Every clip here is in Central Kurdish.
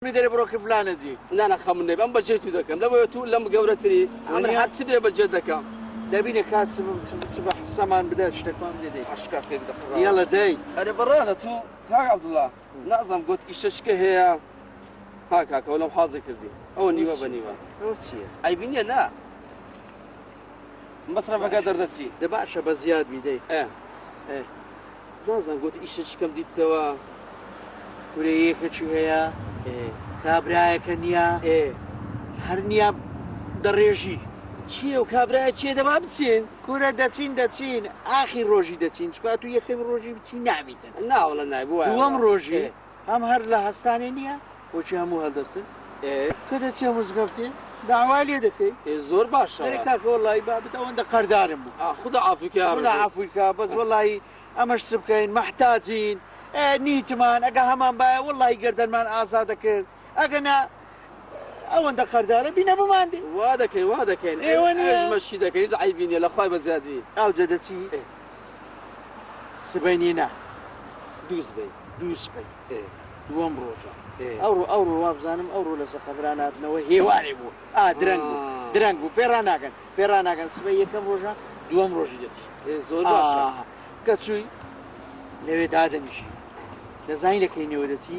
بی دەرێ بڕۆ کە فلانە جی. نانا خەمت نەبێ ئەم بەجێی تو دەکەم لەبۆیە تو لەم گەورەتری ئەمن هەر چ بێ بەجێت دەکەم. دەبینە کات چ چ بە حسەمان بدە شتەکمان بدە دەی. عەشقا پێک دەخڕاوە. یەڵە دەی. ئەرێ بەڕێزە تو کاک عەبدوڵا نازانم گۆت ئیشە چکە هەیە ها کاکە وەلام حازی کردی ئەوە نیوە بە نیوە. ئەوە چیە؟ عەیبی نیە نا. مەسرەفەکە دەردەچی دە باشە بە زیاد میدەی نازان گوت ئیشە چکەم دیتەوە کورێ یەکێکی هەیە کابراایەکە نییە هەر نییە دەڕێژی چیە و کابراە چێ دەما بچین کورە دەچین دەچین ئاخی ڕۆژی دەچین چکات و یەکەم ڕۆژی بچی ناویتن ناوڵە نایبووە دووەم ڕۆژێ هەم هەر لە هەستانێ نیە وەکی هەموو هەلدەستن ئێ کە دەچێ مزگەفتێ داوای لێ دەکەی ئێ زۆر باشە دەرێ کاکە وەڵایی بابت ئەوەندە قەردارم بوو ئا خودا عەفوی کە یا ڕەبی خودا عەفوی کە بەس وەڵایی ئەمەش چ بکەین مەحتاجین ئێ نیتمان ئەگە هەمان بایە وەڵایی گەردەنمان ئازا دەکرد ئەگەنا ئەوەندە قەردارە بینە بماندێ وا دەکەین وا دەکەین ئێوە نێژمەشی دەکەین عیبی نیە لەخوای بە زیادی ئاوجە دەچی سبەینی نا دووس بی دووس بی دووەم ڕۆژە ئەوڕۆ ئەوڕۆ وابزانم ئەوڕۆ لەسە قەبراناتنەوە هێوارێ بوو ئا درەنگ بوو درەنگ بوو پێرا ناگەن پێرا ناگەن سبە یەکەم ڕۆژە دووەم ڕۆژی دەچی زۆر کە چووی لەوێ دادەنیشی دەزانین لەکەینەوە دەچی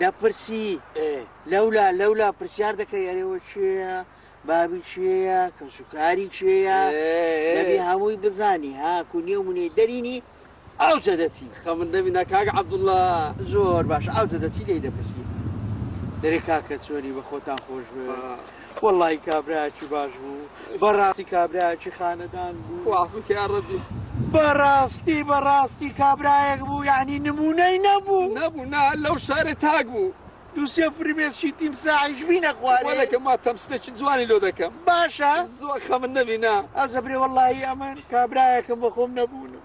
دەپرسی لەولا لەولا پرسیار دەکەی ئەرێوە چێە بابی چێە کەسوکاری چێە دەبی هەمووی بزانی ها کونیە و منێ دەرینی ئەو جەدەتی خەمن دەبی ناکاک عبدوڵە زۆر باش ئەو جەدەتی لی دەپرسی دەرێ کاکە چۆری بە خۆتان خۆش بێ وەڵڵاهی کابرایەکی باش بوو بەڕاستی کابرایەکی خانەدان بوو خوا عەفوت کە یاڕەبی. بەڕاستی بەڕاستی کابرایەک بوو یەعنی نمونەی نەبوو. نەبوو نا لەو شارێ تاک بوو. دوو سێ فرمێسکی تیمساحیش بینە خوارێ. وەلە کە ما تەمسلێکی جوانی لۆ دەکەم. باشە. زۆر خەمت نەبی نا. ئەوجە برێ وەڵڵاهی ئەمن کابرایەکم بەخۆم نەبوونم.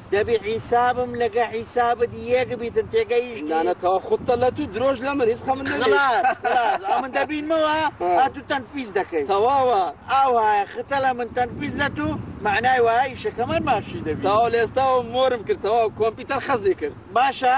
دەبی حیسابم لەگە حیسابت یەک بیتن تێگەیشتی نانە تەوا خودتە لە تو درۆژ لە من هیچ خەمن نەبێت خلاص خلاص ئەو من دەبینمەوە ها تو تەنفیز دەکەی تەواوە ئاو هایە ختە لە من تەنفیز لە تو مەعنای وایە ئیشەکەمان باشی دەبی تەواو لە ئێستاوە مۆرم کرد تەواو کۆمپیوتەر خەزی کرد باشە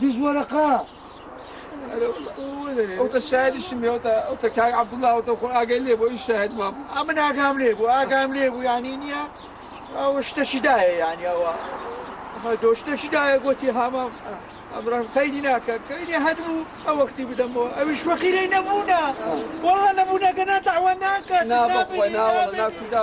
بیست وەرەقە ئەوتە شاریشم بێەوەتە ئەوتە کاک عبدڵاوەتە خۆ ئاگەی لێ بۆ ئی شاهد ما بوو ئەمە ناگام لێ بوو ئاگام لێ بوو یانی نییە ئەو شتەشی دایە یانی ئەوە دۆ شتەشی دایە گوتی هامام ئەمڕان قەیدی ناکە کەینێ هەبوو ئە وەختی بدەم بۆ ئەویش وەقیرەی نەبوونە وڵا نەبوونەکە ناتەوە ناکە ناوە ناکودا